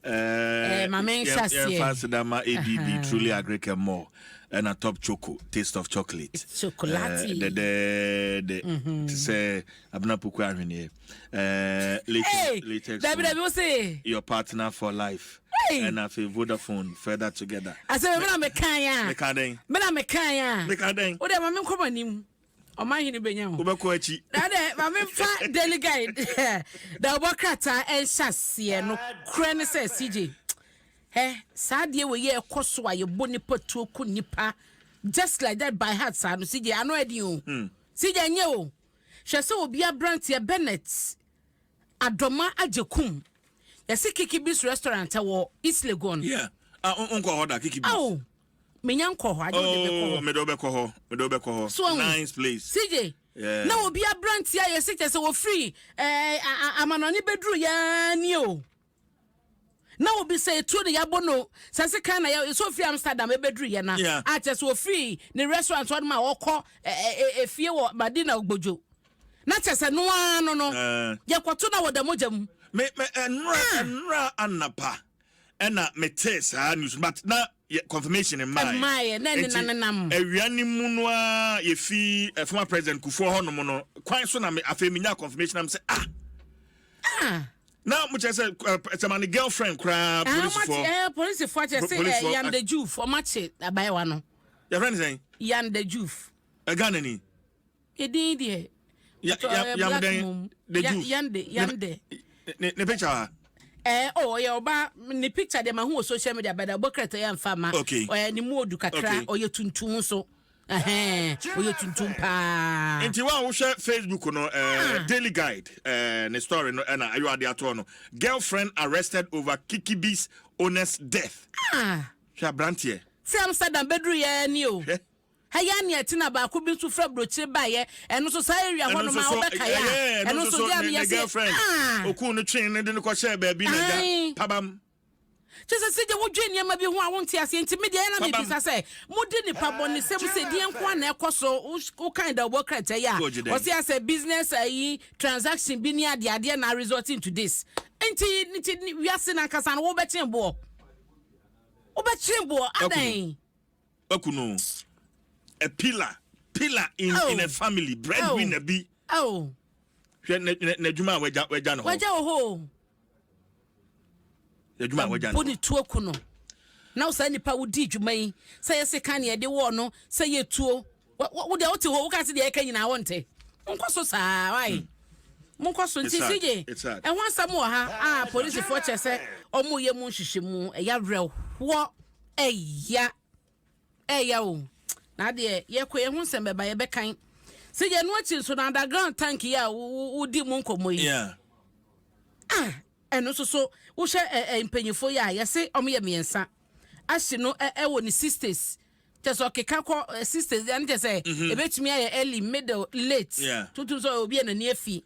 Eh, ma menhyɛ aseɛ. Yɛmfa aseda ma ADB Truly Agric and More ɛna Top Choco Taste of Chocolate. Chocolate. Eh, dɛdɛɛdɛ. Mhm. Te sɛ Abena Poku ahweneɛ. Eh, latex, latex. Dabi dabi wo se. Your partner for life. ɛna afei vodafone further together asɛ mena mekan a meka dɛn mena mekan a meka dɛn wode ma menkɔma nim ɔma hene bɛnya ho wobɛkɔ akyi na dɛ ma memfa daily guide na wobɔ krataa ɛnhyɛ aseɛ no korɛ ne sɛ cj hɛ saa deɛ wei yɛ ɛkɔ so a yɛbɔ nipa tuo ku nipa just like that by heart saa no cj ano ɛden o hmm. cj nyɛ o hwɛ sɛ obi aberanteɛ bennett adɔma agye kum yɛse kiki bis restaurant wɔ east legon yeah. ah, nkɔ hɔ da kiki bis oh. menya nkɔ hɔ agye wode bɛkɔ oh, hɔ mede wobɛkɔ hɔ mede wobɛkɔ hɔ so nice place CJ yeah. na obi aberante ayɛ sɛ kyɛ sɛ wɔfiri eh, amanɔne bɛduru yɛa nie o na obi sɛ etuo na yɛabɔ no sɛ se kan na yɛ sɛ ofiri amsterdam ɛbɛduru yɛ na yeah. akyɛ sɛ ofiri ne restaurant hɔ no ma ɔkɔ efie wɔ madina ogbodwo na kyɛ sɛ noa no no eh. yɛkɔto na wɔda mogya mu me me ɛnora eh. ɛnora anapa ɛna me tee saa news but na yɛ confirmation mmaeɛ mmaeɛ na ɛne na nenam awia ne mu no a yɛfi eh, former president kufuɔ hɔ nom no kwan so na me afei menya confirmation am sɛ ah ah na mo kyerɛ sɛ eh, sɛ ma ne girlfriend koraa ah ɔmate polisifoɔ ɛɛ polisifoɔ akyɛ sɛ ɛɛ Polisifoɔ- yanda juf ɔmate abayewa no yɛfrɛ ne sɛn yanda juf ɛghana ni Edin deɛ. Ya ya eh, yam dɛn the juice. Yam de yam de. Ne ne picture ha. Ɛɛ eh, oh, ɔyɛ ɔba ne picture deɛ ma ho wɔ social media bɛda ɔbɔ kɛrɛtɛ yɛ nfa ma. Okay. Ɔyɛ ne mu odu kakra okay. ɔyɛ tuntum nso. ɔyɛ tuntum paa nti wo a wohwɛ facebook no uh, daily guide uh, ne story no ɛna ayɔ ade atoɔ no girlfriend arrested over kikibi's owner's death ah. hwɛ aberanteɛ sɛ amsterdam bɛduruyɛ ni o Ɛyɛ a nea ɛte na baako bi nso fira brokyire baeɛ ɛno nso saa area hɔ nom a wobɛkae a ɛno nso deɛ meyɛ se ah okuu no twee ne de no kɔhyɛɛ baabi na gya pabam kyɛ sɛ sɛdeɛ wodwen nneɛma bi ho a wonte aseɛ nti me deɛ ɛna mebisa sɛ mode nipa bɔnesɛm sɛ deɛ nko a na ɛkɔ so wokan da wobɔ krɛtɛ yi a ɔse asɛ business ayi eh, transaction bi ne adeadeɛ na resort into this nti nti wiase no ankasa no wobɛkyen boɔ wobɛkyen boɔ adɛn Kwaku no a pillar pillar in oh. in a family breadwinner oh. bi oh. hwɛ n'adwuma a wagya wagya no hɔ wagya wɔ hɔ n'adwuma a wagya no hɔ ne tuo ku no na saa nipa wodi dwuma yi sɛ yɛsɛ kan yɛde wɔɔ no sɛ yɛ tuo Wo deɛ wote hɔ woka se deɛ ɛka nyinaa wonte. Monkɔ so saa why? Monkɔ so nti CJ ɛho asɛm wɔ ha a polisifoɔ kyɛ sɛ ɔmo yɛ mu nhyehyɛmu ɛya werɛhoɔ ɛya ɛya o na adeɛ yɛkɔ yɛ ho nsɛm bɛba yɛbɛkan CJ ɛno akyi nso na underground tank yi a wodi mu nkɔmmɔ yi ah ɛno nso so wohyɛ mpanyinfoɔ yi a yɛse ɔmo yɛ mmiɛnsa ahye no ɛwɔ ne sisters Kyerɛ sɛ ɔkeka kɔ eh, sisters ɛne kyerɛ sɛ mhm. ɛbɛtumi ayɛ early middle late yeah. totom sɛ obi a n'ani afi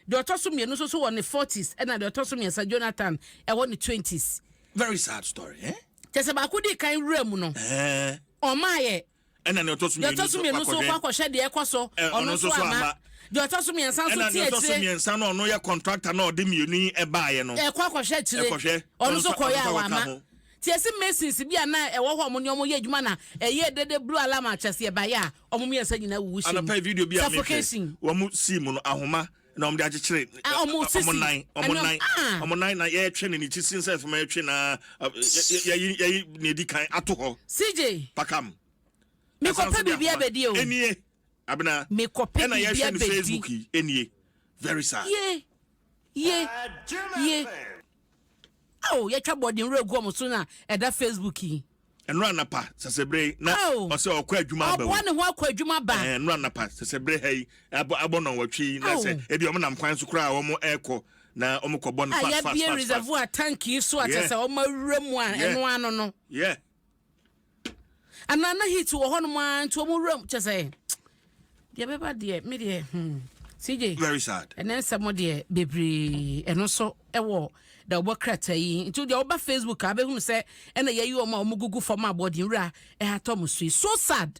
deɛ ɔtɔ so mmienu nso so wɔ ne 40s ɛna deɛ ɔtɔ so mmiɛnsa jonathan ɛwɔ ne 20s very sad story eh? kyerɛ sɛ baako di kan wura mu no eh. ɔmaayɛ ɛna deɛ ɔtɔ so mmienu nso kɔ akɔhwɛ deɛ ɛkɔ so eh, ɔno nso ama deɛ ɔtɔ so mmiɛnsa nso ti akyire ɛna deɛ ɔtɔ so mmiɛnsa no ɔno yɛ contractor na ɔde mmienu yi ɛbaayɛ no ɛkɔ akɔhwɛ akyire ɔno nso kɔyɛ a wama Tiasi Masons bi a na ɛwɔ hɔ a wɔne wɔn yɛ adwuma na ɛyɛɛ dɛ dɛ Blue Alarm Akyɛseɛ baeɛ a wɔn mmiɛnsa nyinaa wuwu hyɛɛ mu. Suffocation. Wɔn sii mu no, ahoma na wɔde akyekyere wɔn nan, wɔn nan, wɔn nan na yɛretwe no ne ti sin sɛ fam yɛretwe na yɛyi yɛyi na edi kan ato hɔ. CJ. Pakam. Mekɔpɛ biribi abɛdi o. Enie. Abena. Mekɔpɛ biribi abɛdi. Facebook yi enie. Very sad. Ye. Ye. Ye. Ao, yɛtwa bɔɔden werɛ gu wɔn so na ɛda Facebook yi. Ɛnora anapa sɛsɛbere na ɔsɛ ɔkɔ adwuma aba o. Ɔboa ne ho akɔ adwuma aba. Ɛɛ ɛnora anapa sɛsɛbere ha yi abɔ abɔ nɔnwɔtwe yi na sɛ ebi wɔn nam kwan so koraa a wɔn ɛkɔ na wɔn kɔ bɔ no fast fast fast. Ayɛbie reservoir tank yi so a kyerɛ sɛ wɔn awura mu a ɛno ano no. anaa na heat wɔ hɔnom ara nti wɔn wuram kyɛ sɛ deɛ bɛba deɛ me deɛ hmm cj very sad ɛnɛ nsɛm deɛ bebree ɛno so ɛwɔ da ɔbɔ krataa yi nti deɛ ɔba facebook a bɛhunu sɛ ɛna yɛyi wɔn a wɔn gugu fam a bɔden wura ɛhatɔ mo so so sad.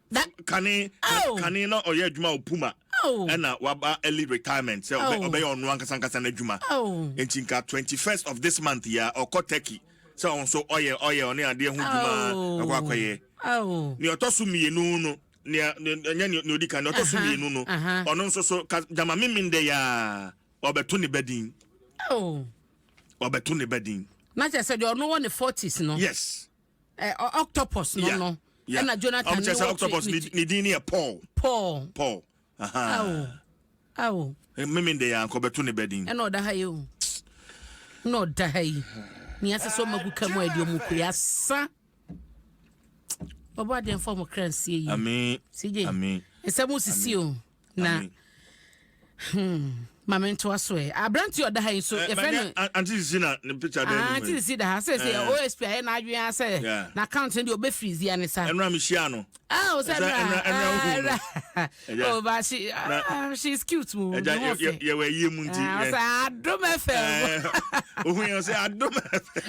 na kane oh. kane na ɔyɛ adwuma wɔ puma oh. ɛna waba early retirement sɛ oh. ɔbɛyɛ ɔno ankasa ankasa no adwuma oh. nti nka 21st of this month yɛ ɔkɔ turkey sɛ ɔn so ɔyɛ ɔyɛ ɔne adeɛ ho dwuma oh. ɔkɔ akɔyɛ oh. nea ɔtɔ so mmienu no nea ɛnyɛ nea odi kan nea ɔtɔ so mmienu no ɔno nso so ka gyama mímí ndɛ yaa ɔbɛto ne ba din ɔbɛto ne ba din. na kyerɛ sɛ deɛ ɔno wɔ ne forties no. yes. Eh, octopus no no. Yeah. Ɛna Jonathan um, ne wɔtwe. octopus ne ne din ne yɛ Paul. Paul. Paul. Aha. Awo. Awo. Eh, Mimi de yɛ ankɔ bɛto ne bɛ din. Ɛna ɔda ha yi o. Ɛna ɔda ha yi. Nea sɛ sɛ ɔmagu ka mu a ɛde ɔmu kure asa. Ɔbɔ adeɛ mfa ɔmo kra nsie yi. Amen. CJ. Amen. Nsɛm sisi o. na hmm ma me ntoa so ɛ aberante ɔda ha yi nso eh, yɛfrɛ no ante sisi na ne picture dɛ ah, ante sisi da ha sɛ sɛ eh. osp ayɛ n'adwene a sɛ na account no deɛ ɔbɛ firi zia ne sa ɛnura mi hyia no ah o sɛ ɛnura ɛnura ɛnura o ba she ah she is cute mu ne ho fɛ yɛ wɔ ɛyie mu nti ɔsɛ adum fm ohun yɛ ɔsɛ adum fm.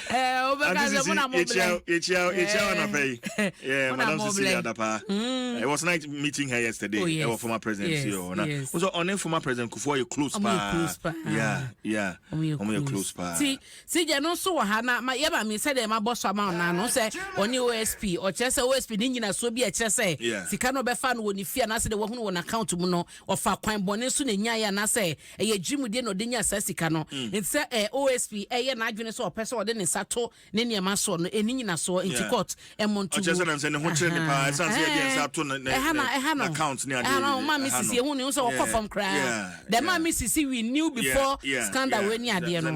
Eh, Anti Sisi, yɛkyia yɛkyia yɛkyia wɔn anapa yi. Yeah, Madam Sisi Adapa. Mm. I was night meeting her yesterday. Oh, yes. Ɛwɔ former president yes, CEO. Na yes. nso ɔne former president Kufuor yɛ close paa. close paa. Yeah, yeah. Ɔmo yɛ close paa. Ti si jɛ no nso wɔ ha na ma yɛ ma mi sɛ deɛ ma bɔ so ama ɔna no sɛ ɔne OSP ɔkyerɛ sɛ OSP ne nyina so bi ɛkyerɛ sɛ sika no ɔbɛfa no wɔ ne fie anaasɛ de wɔhunu wɔn account mu no ɔfa kwan bɔne so na nya yɛ anaasɛ ɛyɛ agyimudie na ɔde nyaa saa sika no mm. nti sɛ eh, osp ɛyɛ n'adwene sɛ ɔpɛ sɛ ɔde ne nsa to ne nneɛma soɔ no ɛni nyina soɔ nti court ɛmmɔ nto ɛha na ɛha no ɛha no ɔma me sisi ɛhu ne ho sɛ ɔkɔ fam koraa dɛ ma me sisi we knew before scandal wɔ ani adeɛ no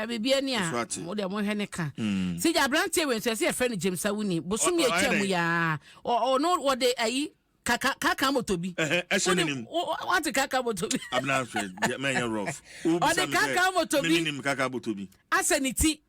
biribiara ni a mo deɛ mohwɛ ne ka mm. sɛ gya aberanteɛ wei nso ɛsɛ yɛfrɛ no gyamsa woni bosome atwa mu yaa ɔno wɔde ayi kaka kaka moto bi. ɛhyɛ ne nim. wate kaka moto bi. abena hwɛ mɛnyɛ rough. ɔde kaka moto bi. menim kaka moto bi. asɛ ne ti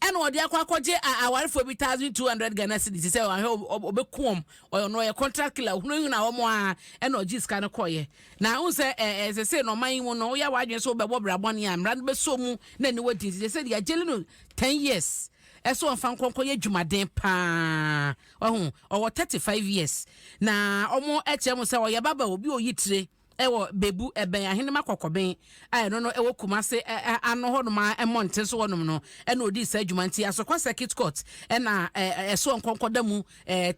ɛna ɔde akɔ akɔgye awarefoɔ bi thousand two hundred ghana cedis sɛ ɔhwɛ ɔbɛku wɔn ɔno ɔyɛ contract killer hunahuna wɔn a ɛna ɔgye sika no kɔɔyɛ na ahun sɛ ɛɛ ɛsɛ sɛ na ɔman yi mu no woyɛ awadwene so bɛbɔ brabɔne a mmara no bɛsɔ mu na ɛni wɔdi nti sɛ deɛ agyeli no ten years ɛsɛ ɔnfa nkɔnkɔ yɛ adwumaden paa. Wahu? Ɔwɔ thirty five years. Na wɔkyerɛ mu sɛ ɔyɛ baba obi oyi tire ɛwɔ Bebu ɛbɛn Ahenema Kɔkɔben a ɛno no ɛwɔ Kumase ano hɔ nom a mmɔnten so hɔ nom no ɛna odii saa adwuma nti Asokwa Circuit Court ɛna ɛsoɔ nkɔnkɔda mu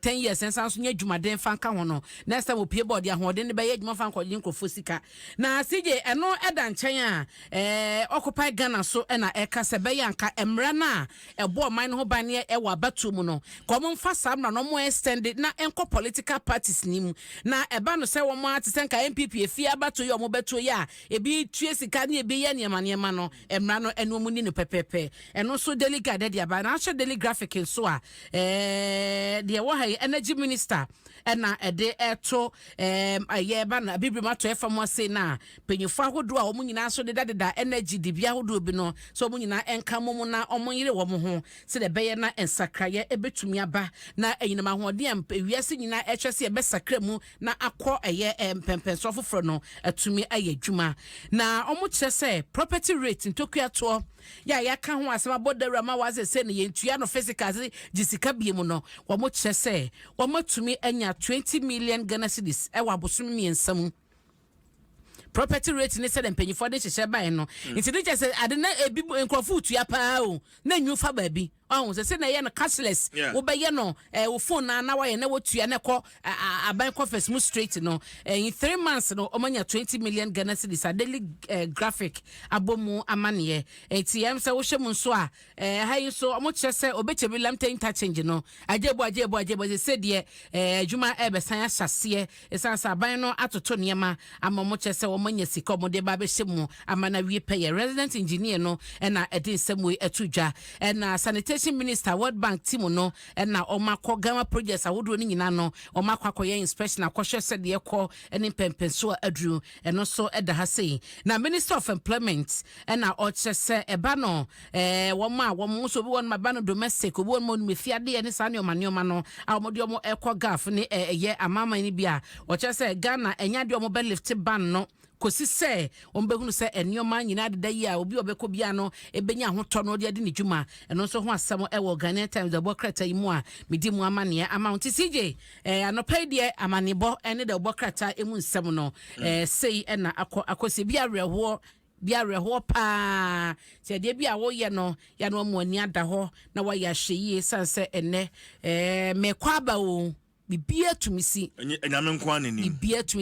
ten years ɛnsan nso nyɛ adwumaden fa nka ho no next time opie bɔ ɔde ahoɔden no bɛyɛ adwuma fa nkɔgye nkurɔfoɔ sika na CJ ɛno ɛda nkyɛn a Occupy Ghana so ɛna ɛka sɛ bɛyɛ anka mmara no a ɛbɔ ɔman no ho ban no yɛ wɔ abatoɔ mu no ka wɔn mfa saa mmra no wɔn extend na ɛnkɔ political parties no mu na ɛba no sɛ wɔn ara te sɛ nka NPP efie abatoɔ yi a wɔn bɛtoɔ yi a ebi tue sika ne ebi yɛ nneɛma nneɛma no mmra no ɛno wɔn ni no pɛpɛpɛ ɛno nso daily guide ɛde aba na ahyɛ daily graphic nso a ɛɛ deɛ wɔ ha yi energy minister ɛna ɛde ɛto ɛɛ ɛyɛ ɛba no abibiri mu atɔ ɛfa mu ase na Mpanyimfo ahodoɔ a wɔn nyinaa nso dedadeda nna gyidibea ahodoɔ bi no sɛ wɔn nyinaa nka mmom na wɔnyere wɔn ho sɛdeɛ ɛbɛyɛ na nsakraeɛ bɛtumi aba na anyinam ahoɔden a wiase nyinaa rekyerɛ sɛ yɛbɛsakra mu na akɔ ɛyɛ mpɛnpɛnsoɔ foforɔ no atumi ayɛ adwuma. Na wɔkyerɛ sɛ property rate, ntokuatoɔ, yɛ a yɛaka ho asɛm abɔ dawura ma wɔa sɛ sei no yɛntua no physical sɛ gye sika bie mu no, wɔkyerɛ sɛ wɔatumi anya 20 million Ghana cedis wɔ abosom mmiɛnsa mu. property rate ne sɛdeɛ mpanyinfoɔ de nhyehyɛ baeɛ no mm. nti ne kyɛ sɛ ade na ebi nkurɔfoɔ tua paa o na nyu fa baabi ɔho sɛ sɛ na ɛyɛ no cashless wobɛyɛ no ɛɛ wo phone na na wayɛ na wotua na ɛkɔ aban kɔfɛs mu straight no ɛyin three months no wɔn anya twenty million ghana cedis a daily ɛɛ graphic abɔ mu amaneɛ ɛti yɛn sɛ wohyɛ mu nso a Eh, ha yi nso ɔmo kyerɛ sɛ ɔbɛkyɛ bi lamte interchange no agyebo agyebo agyebo sɛ sɛ deɛ eh, adwuma ɛbɛsan ahyɛ aseɛ ɛsan sɛ aban no atoto nneɛma ama ɔmo kyerɛ sɛ ɔmo anya sika ɔmo de ba abɛhyɛ mu ama no awie pɛyɛ resident engineer no ɛna ɛde nsɛm wei ato dwa ɛna sanitation minister world bank ti mu no ɛna ɔmo akɔ gama projects ahodoɔ no nyinaa no ɔmo akɔ akɔyɛ inspection akɔhwɛ sɛdeɛ ɛkɔ ɛne mpɛmpɛnsoɔ aduru Ɛno nso da ha sei. Na Minister of Employment ɛna ɔkyerɛ sɛ ɛba no ɛɛ wɔn a wɔn nso obi wɔn ma ɛba no domestic obi wɔn ma onim efi adeɛ ne saa nneɛma nneɛma no a wɔn de wɔn ɛkɔ gulf ne ɛyɛ amanaman no bi a ɔkyerɛ sɛ Ghana ɛnyɛ adeɛ wɔn bɛ lift ban no kɔsi sɛ wɔn bɛhunu sɛ nneɛma nyinaa deda yi a obi ɔbɛkɔ biara no ɛbɛnya ahotɔ no ɔde adi ne dwuma ɛno nso ho asɛm ɛwɔ Ghanaian Times ɛbɔ krataa yi mu a medi mu amaneɛ ama ho nti CJ Eh, anɔpa yi deɛ amanebɔ ne dɛ wobɔ krataa emu nsɛm no mm. eh, sei na akɔ akɔsi bi awerɛhoɔ bi awerɛhoɔ paa sɛ adeɛ bi a woyɛ no yɛ no ɔmo ani ada hɔ na wayɛ ahyɛ yie sane sɛ ɛnɛ eh, mekɔ aba o biribiara tumi si ɛnyɛ ɛnyame nko ara n'anim biribiara tumi